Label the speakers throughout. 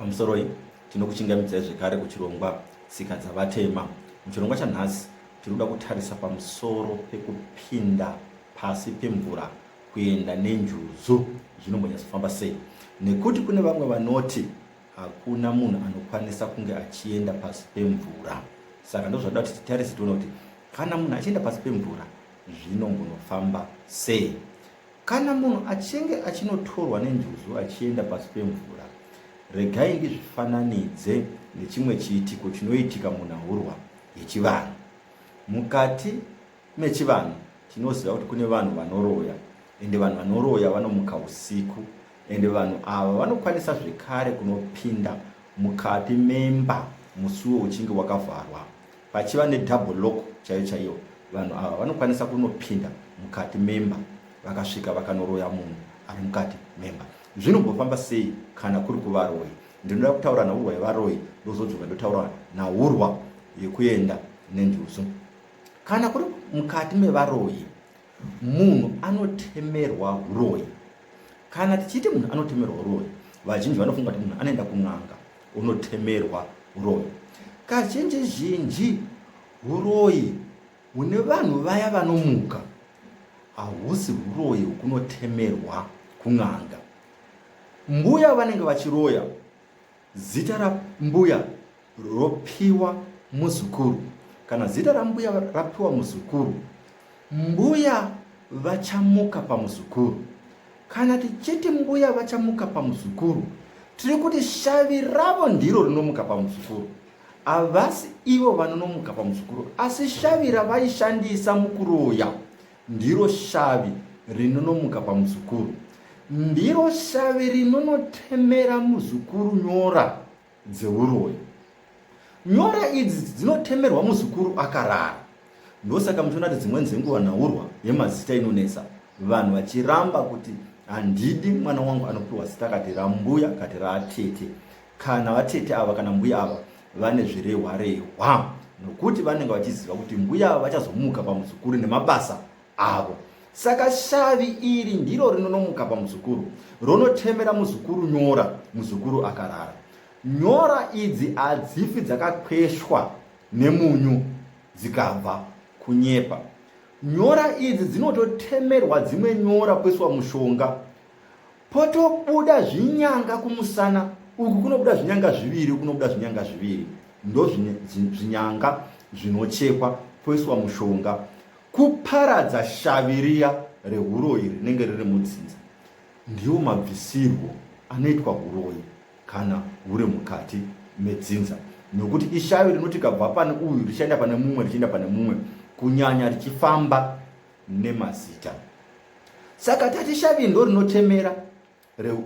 Speaker 1: pamusoroi tinokuchingamidzai zvekare kuchirongwa tsika dzavatema muchirongwa chanhasi tiri kuda kutarisa pamusoro pekupinda pasi pemvura kuenda nenjuzu zvinombanyatsofamba sei nekuti kune vamwe vanoti hakuna munhu anokwanisa kunge achienda pasi pemvura saka ndozvaida kuti titarise tione kuti kana munhu achienda pasi pemvura zvinombonofamba sei Kana munhu achinge achinotorwa nenjuzu achienda pasi pemvura, regai ndizvifananidze nechimwe chiitiko chinoitika munhahurwa yechivanhu. Mukati mechivanhu tinoziva kuti kune vanhu vanoroya ende vanhu vanoroya vanomuka usiku ende vanhu ava vanokwanisa zvekare kunopinda mukati memba musuwo uchinge wakavharwa Pachiva ne double lock chaiyo chaiyo vanhu ava vanokwanisa kunopinda mukati memba vakasvika vakanoroya munhu ari mukati memba. Zvinombofamba sei kana kuri kuvaroyi? Ndinoda kutaura naurwa yevaroyi ndozodzoka ndotaura naurwa yekuenda nenjuzu. Kana kuri mukati mevaroyi munhu anotemerwa uroyi kana tichiti munhu anotemerwa uroyi vazhinji vanofunga kuti munhu anoenda kun'anga unotemerwa uroyi kazhinji zhinji uroyi hune vanhu vaya vanomuka hahusi uroyi hukunotemerwa kun'anga mbuya vanenge vachiroya Zita rambuya ropiwa muzukuru. Kana zita rambuya rapiwa muzukuru, mbuya vachamuka pamuzukuru. Kana tichiti mbuya vachamuka pamuzukuru, tiri kuti shavi ravo ndiro rinomuka pamuzukuru. Havasi ivo vanonomuka pamuzukuru, asi shavi ravaishandisa mukuroya Ndiro shavi rinonomuka pamuzukuru. Ndiro shavi rinonotemera muzukuru nyora dzeuroyi. Nyora idzi dzinotemerwa muzukuru akarara. Ndosaka muchiona kuti dzimweni dzenguva nhaurwa yemazita inonetsa vanhu vachiramba kuti handidi mwana wangu anopiwa zita kati rambuya kati raatete kana vatete ava kana mbuya ava vane zvirehwarehwa nokuti vanenge vachiziva kuti mbuya ava vachazomuka pamuzukuru nemabasa avo saka shavi iri ndiro rinonomuka pamuzukuru ronotemera muzukuru nyora muzukuru akarara nyora idzi hadzifi dzakakweshwa nemunyu dzikabva kunyepa nyora idzi dzinototemerwa dzimwe nyora kweswa mushonga potobuda zvinyanga kumusana uku kunobuda zvinyanga zviviri kunobuda zvinyanga zviviri ndo zvinyanga zvinochekwa poiswa mushonga kuparadza shavi riya rehuroyi rinenge riri mudzinza ndiwo mabvisirwo anoitwa huroyi kana huri mukati medzinza nokuti ishavi rinoti kabva pane uyu richienda pane mumwe richienda pane mumwe kunyanya richifamba nemazita saka tati shavi ndo rinotemera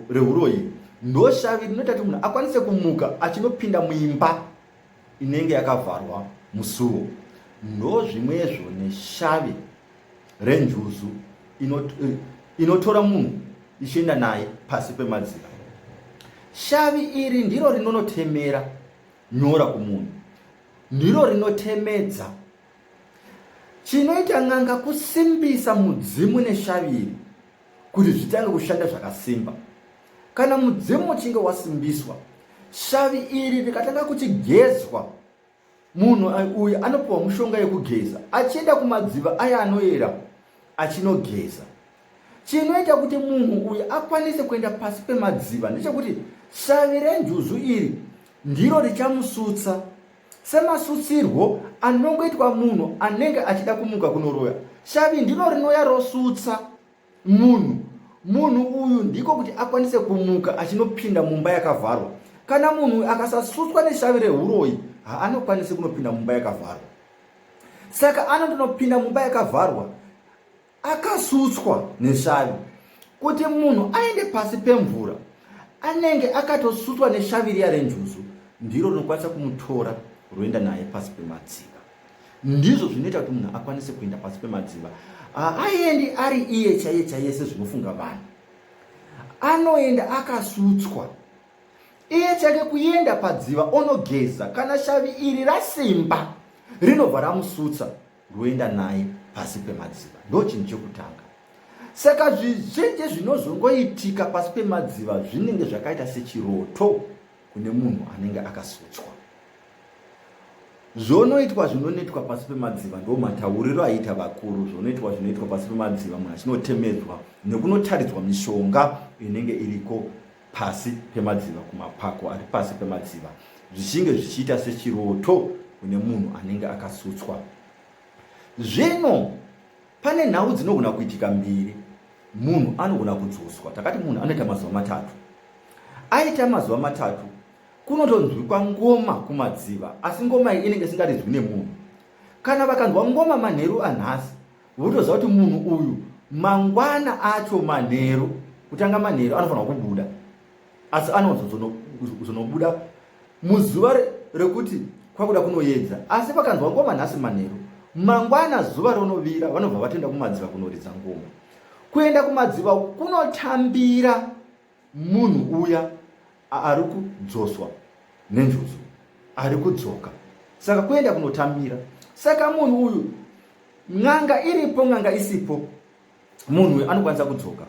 Speaker 1: reuroyi re ndo shavi rinoita kuti munhu akwanise kumuka achinopinda muimba inenge yakavharwa musuwo ndo zvimwezvo neshavi renjuzu inotora munhu ichienda naye pasi pemadzira shavi iri ndiro rinonotemera nyora kumunhu ndiro rinotemedza Chinoita n'anga kusimbisa mudzimu neshaviri kuti zvitange kushanda zvakasimba. Kana mudzimu uchinge wasimbiswa, shavi iri rikatanga kuchigezwa, munhu uyu anopiwa mushonga yekugeza achienda kumadziva aya anoyera achinogeza. Chinoita kuti munhu uyu akwanise kuenda pasi pemadziva ndechekuti shavi renjuzu iri ndiro richamusutsa Semasutsirwo anongoitwa munhu anenge achida kumuka kunoroya, shavi ndiro rinouya rosutsa munhu munhu uyu ndiko kuti akwanise kumuka achinopinda mumba yakavharwa. Kana munhu akasasutswa neshavi rehuroyi, haanokwanisi kunopinda mumba yakavharwa. Saka anondonopinda mumba yakavharwa akasutswa neshavi kuti munhu aende pasi pemvura anenge akatosutswa neshavi riya renjuzu ndiro rinokwanisa kumutora roenda naye pasi pemadziva ndizvo zvinoita kuti munhu akwanise kuenda pasi pemadziva haaendi ari iye chaiye chaiye sezvinofunga vanhu anoenda akasutswa iye chake kuenda padziva onogeza kana shavi iri rasimba rinobva ramusutsa ndoenda naye pasi pemadziva ndo chinhu chekutanga saka zvizhinji zvinozongoitika pasi pemadziva zvinenge zvakaita sechiroto kune munhu anenge akasutswa zvonoitwa zvinonetwa pasi pemadziva ndo matauriro aiita vakuru zvonoitwa zvinoitwa pasi pemadziva munhu achinotemedzwa nekunotaridzwa mishonga inenge iriko pasi pemadziva kumapako ari pasi pemadziva zvichinge zvichiita sechiroto kune munhu anenge akasutswa zvino pane nhau dzinogona kuitika mbiri munhu anogona kudzoswa takati munhu anoita mazuva matatu aita mazuva matatu kunotonzwikwa ngoma kumadziva asi ngoma iyi inenge isingarizwi nemunhu kana vakanzwa ngoma manheru anhasi Wotoziva kuti munhu uyu mangwana acho manheru kutanga manheru anofanirwa kubuda asi anozonobuda muzuva rekuti kwakuda kunoyedza asi vakanzwa ngoma nhasi manheru mangwana zuva ronovira vanobva vatoenda kumadziva kunoridza ngoma kuenda kumadziva kunotambira Munhu uya ari kudzoswa nenjuzu ari kudzoka saka kuenda kunotamira saka munhu uyu n'anga iripo n'anga isipo munhu uyu anokwanisa kudzoka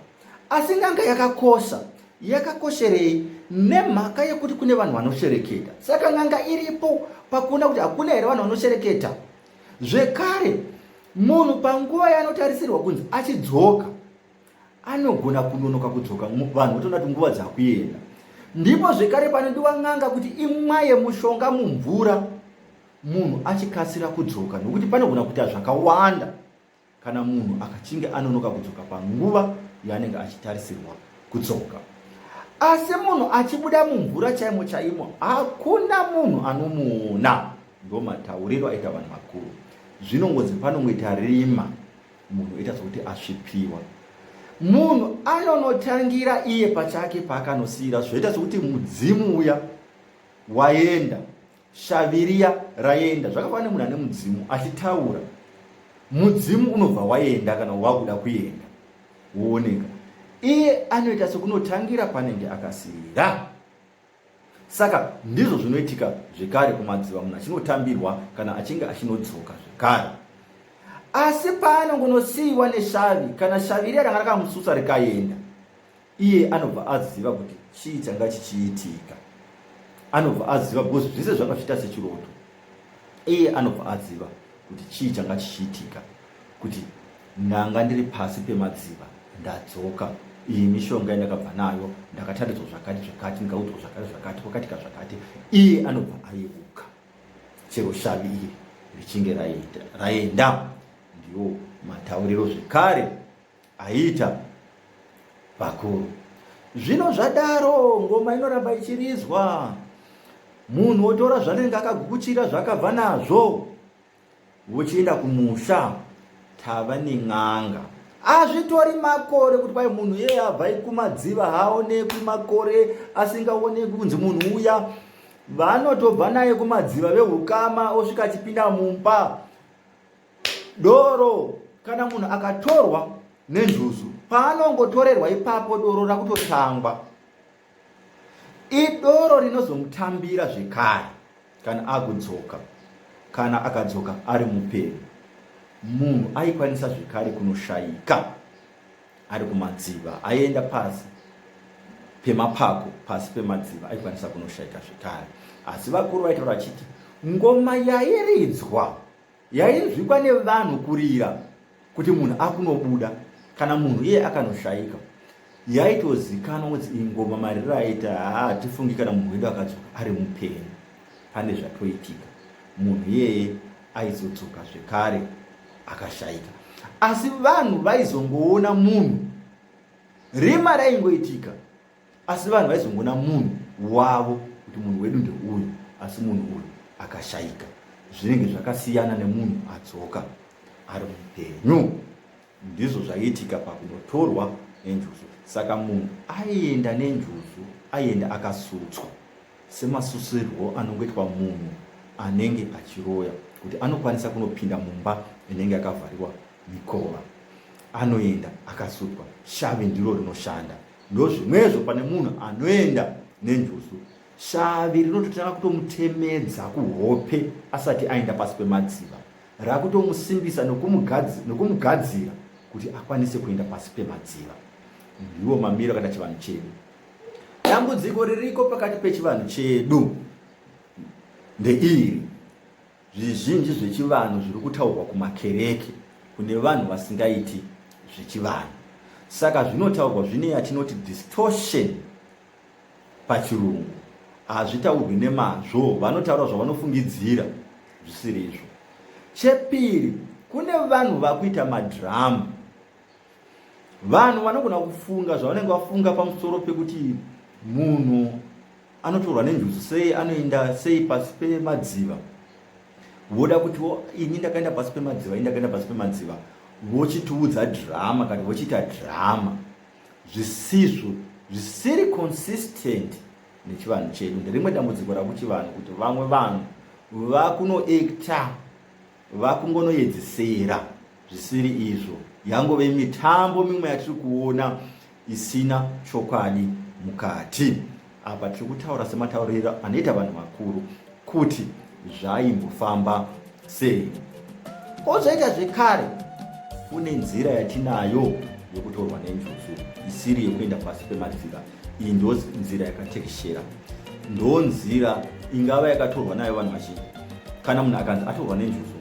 Speaker 1: asi n'anga yakakosha yakakosherei nemhaka yekuti kune vanhu vanoshereketa saka n'anga iripo pakuona kuti hakuna here vanhu vanoshereketa zvekare munhu panguva yaanotarisirwa kunzi achidzoka anogona kunonoka kudzoka vanhu votoona kuti nguva dzakuenda ndipo zvekare panodiwa n'anga kuti imwaye mushonga mumvura munhu achikasira kudzoka nokuti panogona kuita zvakawanda kana munhu akachinge anonoka kudzoka panguva yaanenge achitarisirwa kudzoka asi munhu achibuda mumvura chaimo chaimo hakuna munhu anomuona ndomatauriro aita vanhu vakuru zvinongozi panongoita rima munhu oita zvekuti asvipiwa munhu anonotangira iye pachake paakanosiyira zvoita sokuti mudzimu uya waenda shaviriya raenda zvakafanana nemunhu ane mudzimu achitaura mudzimu unobva waenda kana wakuda kuenda wooneka iye anoita sokunotangira panenge akasiyira Saka ndizvo zvinoitika zvekare kumadziva munhu achinotambirwa kana achinge achinodzoka zvekare. Asi paanongonosiiwa neshavi kana shavi riya ranga rakamusutsa rikaenda, iye anobva aziva kuti chii changa chichiitika. Anobva aziva because zvese zvakazviita sechiroto. iye anobva aziva kuti chii changa chichiitika kuti ndanga ndiri pasi pemadziva ndadzoka iyi mishonga yandakabva nayo ndakataridzwa zvakati zvakati ndikaudzwa zvakati zvakati kwakatika zvakati iye anobva ayeuka chero shavi iri richinge raenda ndiwo matauriro zvekare aiita vakuru zvino zvadaro ngoma inoramba ichirizwa munhu otora zvanenge akagukuchira zvakabva nazvo vochienda kumusha tava nen'anga azvitori makore kuti kwai munhu yeye abva ikumadziva haaonekwi makore asingaonekwi kunzi munhu uya vanotobva naye kumadziva vehukama osvika achipinda mumba doro kana munhu akatorwa nenjuzu paanongotorerwa ipapo doro rakutotangwa idoro rinozomutambira zvekare kana akudzoka kana akadzoka ari mupenyu munhu aikwanisa zvekare kunoshaika ari kumadziva aienda pasi pemapako pasi pemadziva aikwanisa kunoshaika zvekare asi vakuru vaitaura vachiti ngoma yairidzwa yainzwikwa nevanhu kurira kuti munhu akunobuda kana munhu iye akanoshaika yaitozikanwa kuti iyi ngoma mariro aita hatifungi kana munhu wedu akadzoka ari mupenyu pane zvatoitika munhu iyeye aizodzoka zvekare akashaika asi vanhu vaizongoona munhu rima raingoitika asi vanhu vaizongoona munhu wavo kuti munhu wedu ndeuyu asi munhu uyu akashaika zvinenge zvakasiyana nemunhu adzoka ari mupenyu ndizvo zvaiitika pakunotorwa nenjuzu saka munhu aienda nenjuzu aienda akasutswa semasusirwo anongoitwa munhu anenge achiroya kuti anokwanisa kunopinda mumba inenge yakavhariwa mikova anoenda akasutswa shavi ndiro rinoshanda ndozvimwezvo pane munhu anoenda nenjuzu shavi rinototanga kutomutemedza kuhope asati aenda pasi pemadziva rakutomusimbisa nokumugadzira kuti akwanise kuenda pasi pemadziva ndiwo mamiro kana chivanhu chedu dambudziko ririko pakati pechivanhu chedu ndeiri Zvizhinji zvechivanhu zviri kutaurwa kumakereke kune vanhu vasingaiti zvechivanhu. Saka zvinotaurwa zvine yatinoti distortion pachirungu. Hazvitaurwi nemazvo, vanotaura zvavanofungidzira zvisiri izvo. Chepiri, kune vanhu vakuita madhiramu Vanhu vanogona kufunga zvavanenge vafunga pamusoro pekuti munhu anotorwa nenjuzu sei, anoenda sei pasi pemadziva, voda kuti ini ndakaenda pasi pemadziva, ini ndakaenda pasi pemadziva, vochitiudza drama kana vochiita drama zvisizvo zvisiri consistent nechivanhu chedu. Nderimwe dambudziko rakuchivanhu kuti vamwe vanhu vakunoekta vakungonoedzesera zvisiri izvo yangove mitambo mimwe yatiri kuona isina chokwadi mukati apa tiri kutaura sematauriro anoita vanhu vakuru kuti zvaimbofamba sei ozvaita zvekare kune nzira yatinayo yokutorwa nenjuzu isiri yekuenda pasi pemadzira iyi ndo nzira yakatekeshera ndo nzira ingava yakatorwa nayo vanhu vazhinji kana munhu akanzi atorwa nenjuzu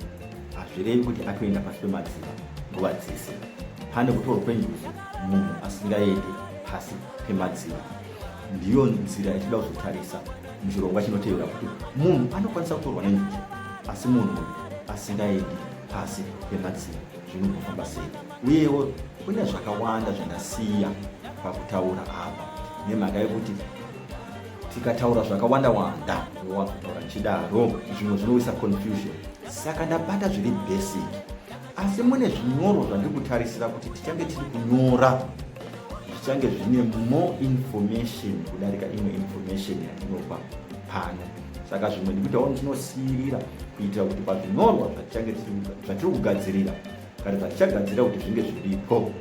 Speaker 1: hazvirevi kuti atoenda pasi pemadziva nguva dzese pane kutorwa kwenjuzu munhu asingaendi pasi pemadziva ndiyo nzira yatinoda kuzotarisa muchirongwa chinotevera kuti munhu anokwanisa kutorwa nenjuzu asi munhu asingaendi pasi pemadziva zvinogofamba sei uyewo kune zvakawanda zvandasiya pakutaura apa nemhaka yekuti tikataura zvakawanda wanda wakutaura chidaro zvimwe zvinowisa confusion saka ndabata zviri basic asi mune zvinyorwa zvandiri kutarisira kuti tichange tiri kunyora zvichange zvine more information kudarika imwe information yatinopa pano saka zvimwe ndikuitawo ndinosiirira kuitira kuti pazvinyorwa zvatiri kugadzirira kare zvatichagadzira kuti zvinge zviripo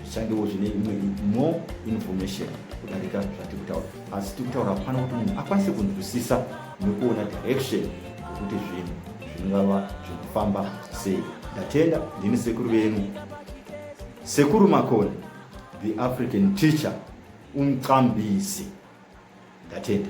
Speaker 1: zvichangewo zvine imwe more information kudarika zvatiri kutaura asi tiri kutaura pano kuti munhu akwanise kunzwisisa nekuona direction yekuti zvinhu zvingava zvinofamba sei ndatenda ndini sekuru venyu sekuru makoni the african teacher umqambisi ndatenda